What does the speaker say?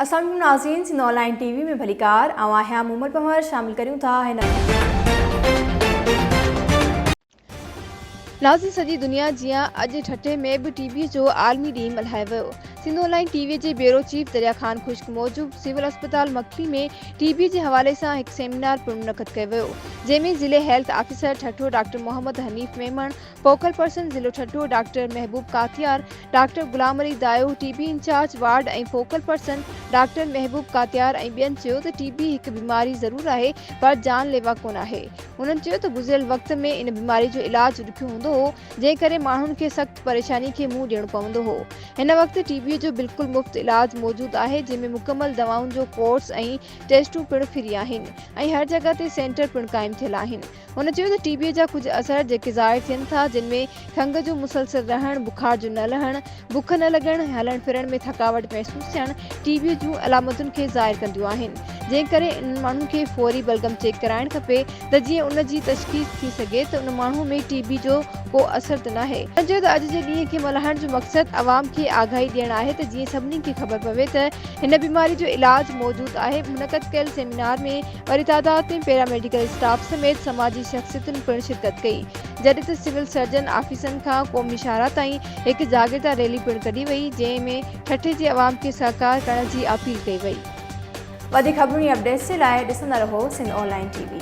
اسلام عليڪم ناظرين Sindh online T V ۾ ڀليڪار آئون آهيان مومل پنهور شامل ڪريون ٿا هن ناظرين سڄي دنيا جيان اڄ ٺٽي ۾ به ٽي بي جو عالمي ڏينهن ملهايو ويو Sindh online T V جي بيورو چيف دريا خان خشڪ موجب سول اسپتال مڪلي ۾ ٽي بي جي حوالي سان هڪ سيمينار پڻ منعقد ڪيو ويو جنهن ۾ ضلعي health officer Thatta doctor Muhammad Hanif Memon focal person ضلعو Thatta doctor Mehboob Katiyar, doctor Ghulam Ali Dayo, T B incharge ward ۽ focal person doctor Mehboob Katiyar ۽ ٻين چيو ته ٽي بي هڪ بيماري ضرور آهي پر جان ليوا ڪونه آهي. انهن چيو ته گذريل وقت ۾ ان بيماري جو علاج ڏکيو هوندو هو جنهن ڪري ماڻهن کي سخت پريشاني کي منهن ڏيڻو پوندو هو هن وقت ٽي بي جو بلڪل مفت علاج موجود آهي جنهن ۾ مڪمل دوائن جو ڪورس ۽ ٽيسٽون پڻ فري آهن ۽ هر جڳهه تي سينٽر پڻ قائم ٿيل آهن. هن چيو ته ٽي بيء جا ڪجهه اثر جيڪي ظاهر ٿين ٿا جن ۾ کنگهه جو مسلسل رهڻ، بخار جو نه لهڻ، بک نه لڳڻ، هلڻ ڦرڻ ۾ ٿڪاوٽ محسوس ٿيڻ ٽي بيء جون علامتن کي ظاهر ڪنديون آهن جنهن ڪري انهن ماڻهن کي فوري بلغم چيڪ ڪرائڻ کپي ته جيئن ان جي تشخيص ٿي سگهي ته ان ماڻهو ۾ ٽي بي جو ڪو اثر ته ناهي. هن چيو ته اڄ جي ڏينهن کي ملهائڻ جو مقصد عوام کي آگاهي ڏيڻ آهي ته جيئن سڀني کي خبر پوي ته هن بيماري جو علاج موجود آهي منعقد ڪيل سيمينار ۾ وڏي تعداد ۾ پيراميڊيڪل اسٽاف سميت سماجي شخصيتن پڻ شرڪت ڪئي، جڏهن ته سول سرجن آفيسن کان قومي شاهراهه تائين هڪ جاگرتا ريلي پڻ ڪڍي وئي، جنهن ۾ ٺٽي جي عوام کي سهڪار ڪرڻ جي اپيل ڪئي وئي. وڌيڪ خبرون ۽ اپڊيٽس جي لاء ڏسندا رهو Sindh online T V.